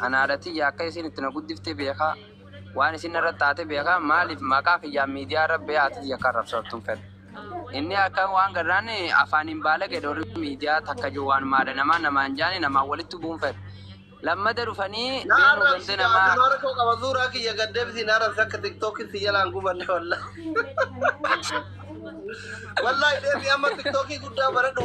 An haadha tiyya akka isiin itti na guddifte beeka, waan isiin narratti taate beeka, maaliif maqaa kiyyaan miidiyaa irra ba'ee haati tiyya akka arrabsamtu hin fedhu. Inni akka waan garraan afaaniin baalage dhoorri miidiyaa takka jiru waanuma haadha namaa namaan jaani namaan walitti bu'uu hin fedhu. Lammada dhufanii Na beenuu ganda arrabsi gaa namaa damaara koo qaba suuraa kiyya gad deebisi na arrabsi akka tiktookiin si jalaan gubanne walla. Wallahi deebi amma tiktookii guddaa baradhu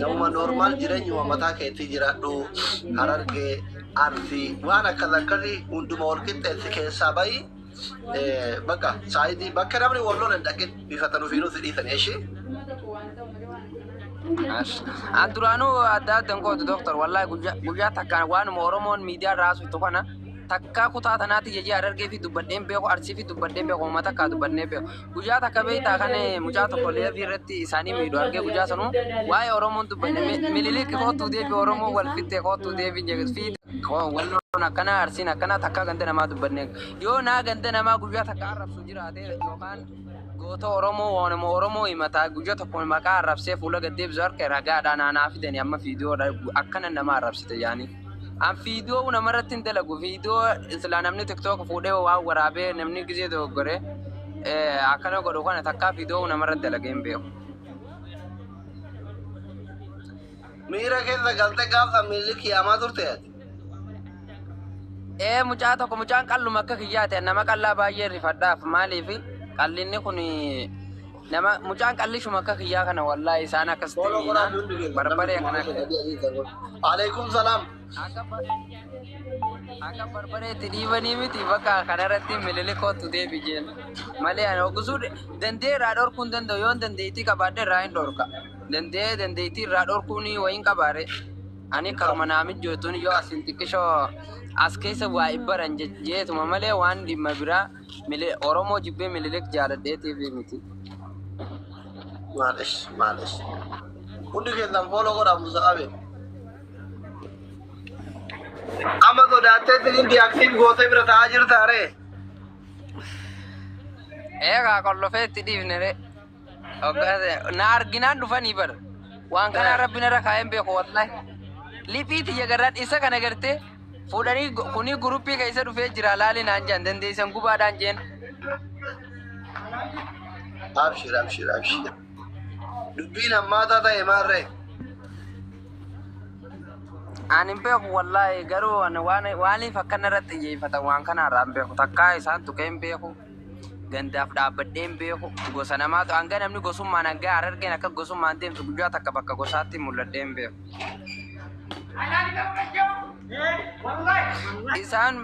Namuma normaal jireenyuma mataa keetii jiraadhu harargee arsii waan akkas akkasii hunduma wal qixxeessi keessaa bahi bakka saayidii bakka namni wal lola hin dhaqin bifatan ofiinuu si dhiisan ishee. An duraanuu adda adda hin gootu doktor wallahi guyyaa guyyaa takkaan waanuma Oromoon miidiyaa irraa haasoftu kana takkaa kutaa tanaatti jejee harargee fi dubbadheen beeku arsii fi dubbadheen beeku uummata takkaa dubbadheen beeku. Guyyaa takka beektaa kan mucaa tokko leebii irratti isaanii miidhu argee guyyaa sanuu waa'ee Oromoon dubbanne mililik kootuu deebi Oromoo wal fittee kootuu deebi fi walloon akkana arsiin akkana takka ganda namaa dubbanne yoo naa ganda namaa guyyaa takka arrabsu jiraate yookaan goota Oromoo waanuma Oromoo himataa guyyaa tokko maqaa arrabsee fuula gaddeebisu harka ragaadhaa naanaa fidanii amma fiidiyoo akkana nama arrabsite yaanii. An fiidiyoo namarratti hin dalagu. Fiidiyoo silaa namni tiktook fuudhee waan waraabee namni gizee dogoggore eh, akkana godhu kana takkaa fiidiyoo namarratti dalagee hin beeku. Miira keessa galte gaafa miilli kiyaamaa turte ati. Ee mucaa tokko mucaan qalluma akka kiyyaate nama qallaa baay'ee rifadhaaf maaliif qallinni kun Nama mucaan qallishuma akka kiyyaa kana wallahi isaan akkas timiina barbaree akkana Alaikum salam. akka bar- akka barbaree itti dhiibanii miti bakka kanarratti mililikootu deebi jeen malee ani ogusuu dandee irraa dhorkuu hin danda'u yoon dandeettii qabaadhe irraa hin dhorka dandee dandeettii irraa dhorkuu ni wayin qabaare ani karuma naa mijjootuun yoo asin xiqqishoo as keessa waa ibbaran jeetuma malee waan dhimma biraa Mili Oromoo jibbee Mililik jaaladhee TV miti. Maalish maalish. Hundi keessan fooloo godhaa Musa Abel. Amma sodaattee sinin diyaaktiif gootee bira ta'aa jirta aree. Eegaa qollofee itti dhiifne ree. Na arginaan dhufanii bara. Waan kanaa rabbi narra kaa'een beeku wallahi. Liphii tiyya garaan isa kana gartee fuudhanii gu- kunii guruppii keessa dhufee jira laali naan jaan dandeessan gubaadhaan jeen. Abshir abshir abshir. Dubbiin hammaataa ta'e maarree. Ani hin beeku wallahi garuu ani waan waaniif akka narratti xiyyeeffatan waan kanaarraa hin beeku takkaa isaan tuqee hin beeku. Gandaaf dhaabbadheen beeku gosa namaatu hanga namni gosummaan hanga harargeen akka gosummaan deemtu guyyaa takka bakka gosaatti mul'adheen beeku. Isaan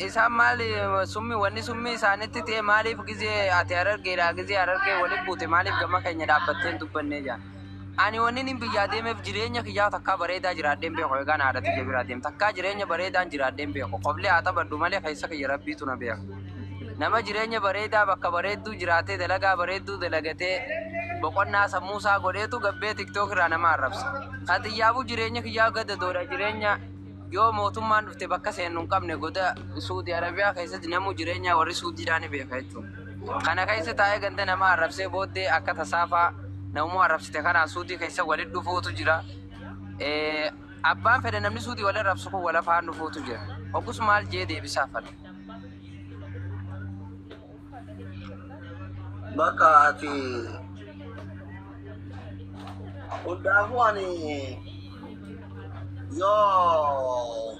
isaan maali summi wanni summi isaanitti ta'e maaliif gizee ati harargeedha gizee harargee waliin buute maaliif gama keenya dhaabbattee hin dubbannee jaan. Ani wanniin biyyaa deemeef jireenya kiyyaa takkaa bareedaa jiraadhee hin beeku eegaan haadha tiyya biraa deem takkaa jireenya bareedaan jiraadhee hin beeku koflee haa taphadhu malee keessa kiyya rabbiitu na beeka nama jireenya bareedaa bakka bareedduu jiraatee dalagaa bareedduu dalagatee boqonnaa sammuu isaa godheetu gabbee tiktok irraa nama arrabsa kan tiyyaafuu jireenya kiyyaa gadadoodha jireenya yoo mootummaan dhufte bakka seennu hin qabne goda suudi arabiyaa keessatti namuu jireenyaa warri suudiidhaa ni beeka jechuudha. Kana keessa taa'ee ganda namaa arrabsee booddee akka tasaafaa namuma arrabsite kanaan suutii keessa walitti dhufuutu jira. Eh, Abbaan fedhe namni suutii wal arrabsu kun wal afaan dhufuutu jira. Oggus maal jee deebisaa fala. Bakka ati hundaafuu ani yoo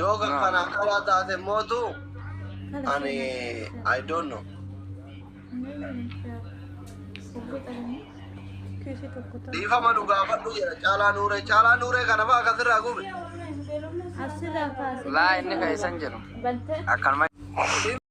Yoo kan kana akkanaa taate mootu ani I don't know. Dhiifama nu gaafadhu jedha caalaa nuuree caalaa nuuree kana fa'aa akkasirraa gube. Asirraa kaasee. Laa inni kan isan jedhu. Bantee. Akkanuma.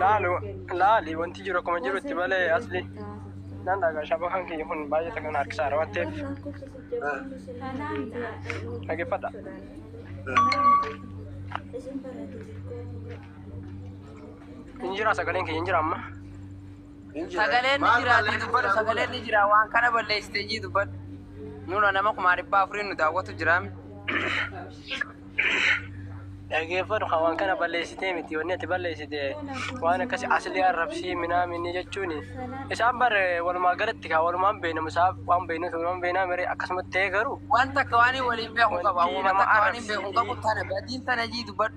Laali laali wanti jiru akkuma jirutti malee asli nan dhagaa shaba kan kiyya kun baay'ee takkan harkisaara waan ta'eef dhaggeeffadha. Injira sagaleen kiyya injira amma. Sagaleen ni jira ati dubbadhu sagaleen ni jira waan kana balleessite jii dubbadhu. Nuna nama kumaa dhibbaa afuriin nu daawwatu jiraami. Dhageeffadhu kan waan kana balleessitee miti wanni ati balleessite waan akkasi asli arrabsii minaaminni jechuun isaan bar walumaa galatti kaa walumaan beeknamu isaa waan beeknuuf walumaan beeknaa miree akkasumatti ta'ee garuu Waan takka waan waliin beeku qaba. Wanti Waan nama takka waan arrabsiisu. beeku qabu tana badiin tana jii dubbadhu.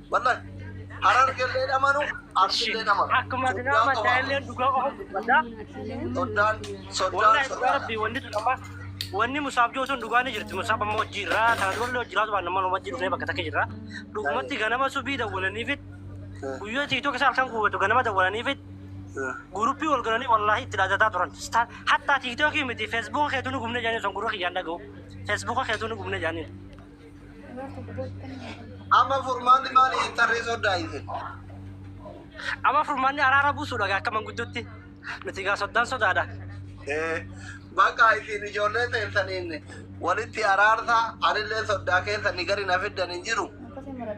Wallahi. Harargellee dhamanu, Arsillee dhamanu. Akkuma addunyaa amantaa illee dhugaa qofa dubbata. Soddaan, soddaan, Wallahi dhugaa soddaan. rabbi wanni tun amma wanni musaaf jiru sun dhugaa ni jirti. Musaaf amma hojii irraa ta'a dubarri hojii irraa waan nama hojii dhufnee bakka takka jirra. Dhugumatti ganama subii dawwalanii fit guyyaa tiiktook isaa halkan guutu ganama dawwalanii fit guruppii wal galanii wallaahi itti dhaadataa turan. Staan- Hattaa tiiktookii miti feesbuuka keetuu ni gubne jaanii sun gurra kiyyaan dhaga'u. Feesbuuka keetuu ni gubne jaanii. Amma furmaanni maali jettan ree soddaa isin? Amma furmaanni araara buusuudha gaa akka manguddutti. Nuti gaa soddaan sodaadha. Eh, Bakka isin ijoollee teessaniin walitti araarsa anillee soddaa keessan gadi na fiddan hin jiru.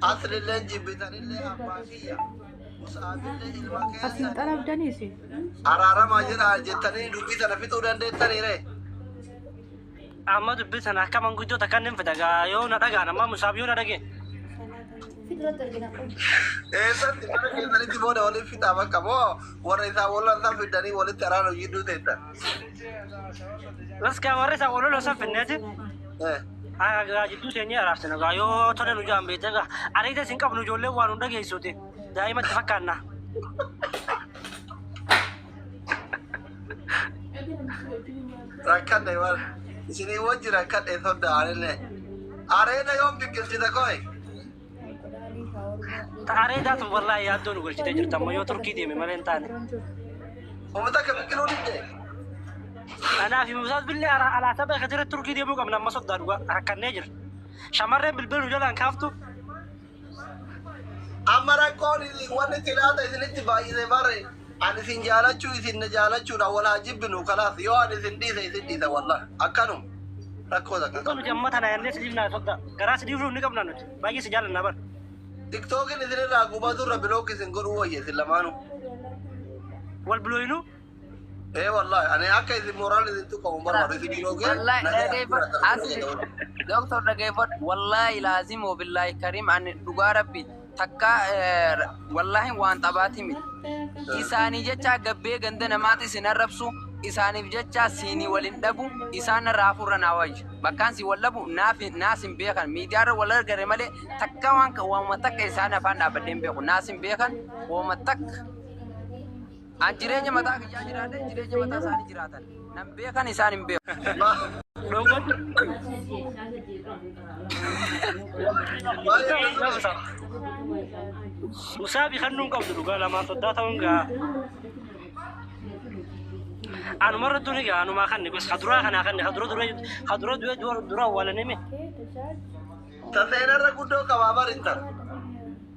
Aslillee jibbitanillee abbaa kiyya. Musaabillee ilma Asin keessan xalabdanii isin. araaramaa jira jettanii dubbii sana fixuu dandeettanii ree? Amma dubbii sana akka manguddoo takka inni hin fida gaa yoo na dhagaan amma musaab yoo na dhagee. Fiduratti argina kun. Eessatti mana keessanitti booda waliin fixaa bakka moo warra isaa wallan san fiddanii walitti araara jidduu teessan. Raskaa warri isaa waloloo san finneeti. Eh, Gaa jidduu teenyee araarsina gaa yoo tole nu jaan beekte gaa ariita isin qabnu ijoollee waan nu dhageessuuti daa'imatti fakkaanna. Rakkadhe waan isinii wajji rakkadhe sodda aanillee. Areeda yoom biqilchita qoy? Areedaa tun wallaahi yaaddoo nu galchitee jirta amma yoo turkii deeme malee hin taane. Uummata akka biqiluu didde. Anaa fi Musaas billee alaa alaa tapha kan jiru turkii deemuu qabna amma soddaa dhugaa rakkannee jira. Shamarreen bilbila nu jalaan kaaftu Amma rakkoon isin wanni itti laata isinitti baay'ise bare an isin jaalachuu isin na jaalachuudha wal haa jibbinu kalaas yoo an isin dhiise isin dhiisa wallah akkanum rakkoo takka Dhugaa qabu. nuti amma tana yaannee sidiif naa sobda. Garaa sidiif nuuf ni qabna nuti. Baay'ee si jaallanna bar. Tiktookiin isinirraa gubatu irra bilookii isin godhuu wayya isin lamaanuu. Wal bilooyinuu. Ee wallahi ani akka isin mooraan isin tuqamu hin barbaadu isin biloogee Wallahi nagaa dhageeffadhu. jiraatan As isin jedha wajjin. doktor dhageeffadhu. Wallahi laazim wabillahi karim ani dhugaa rabbi takka eh, wallahi waan xabaati miti. Isaanii jecha gabbee ganda namaatti isin arrabsu isaaniif jecha siinii waliin dhabu isaan irraa hafuurra naa wayya. Bakkaan si wal dhabu naaf naas hin beekan miidiyaarra wal argare malee takka waan waanuma takka isaan afaan dhaabadhee hin beeku naas hin beekan waanuma takka. An jireenya mataa kiyyaa jiraadhe jireenya mataa isaanii jiraatan. Nan beekan isaan hin beeku. Musaabi kan nuun qabdu dhugaa lamaan soddaa ta'uun gaa. Anuma irra duri gaa anumaa kan gos kaduraa kanaa kan kadura dura kadura dura dura dura awwaalanime. Taseenarra guddoo qabaa barintan.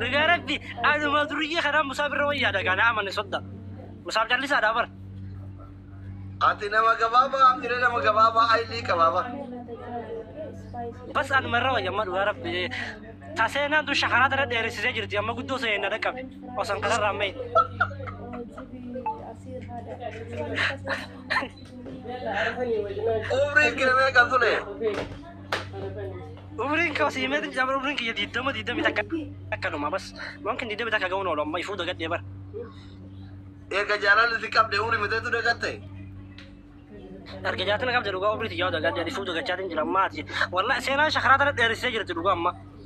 Dhugaa rabbi anuma duriyyee kanaa musaa birra wayyaadha gaanaa amane sodda. Musaaf callisaadha bar. Ati nama gabaabaa amire nama gabaabaa aylii qabaaba. Bas anuma irra wayya amma dhugaa rabbi. Taseenaan tun shakaraa tana dheeressisee jirti amma guddoo sa'ee na dhaqqabe. Osan kanarraa ammayyi. Umriin kee meeqa tule? Umriin koo sii meetiin jira bara umriin kiyya diddama diddami takka akka dhuma bas waan kan diddami takka ga'uun oolu amma ifuu dagadhee bara. Erga jaalalli si qabde umri miteetu dagatte. Erga jaatin qabde dhugaa umrii tiyyaa dagadhee ifuu dagachaatiin jira ammaati. Wallaahi seenaan shakaraa tana dheeressee jirti dhugaa amma.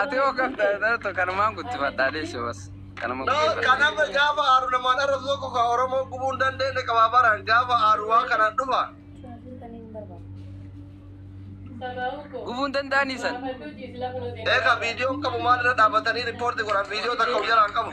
Ati hoo kan ta'e kanumaan guddifadhaa deessi bas. Kanuma No, guddifadhaa. kanama gaafa aaru namaan arrabsu tokko kan Oromoo gubuu hin dandeenye qaba baraan gaafa aaru waa kanaan dhufa. Gubuu hin danda'anii san. Eega viidiyoon qabu maalirra dhaabatanii riippoorti godhan viidiyoo takka of jalaa hin qabu.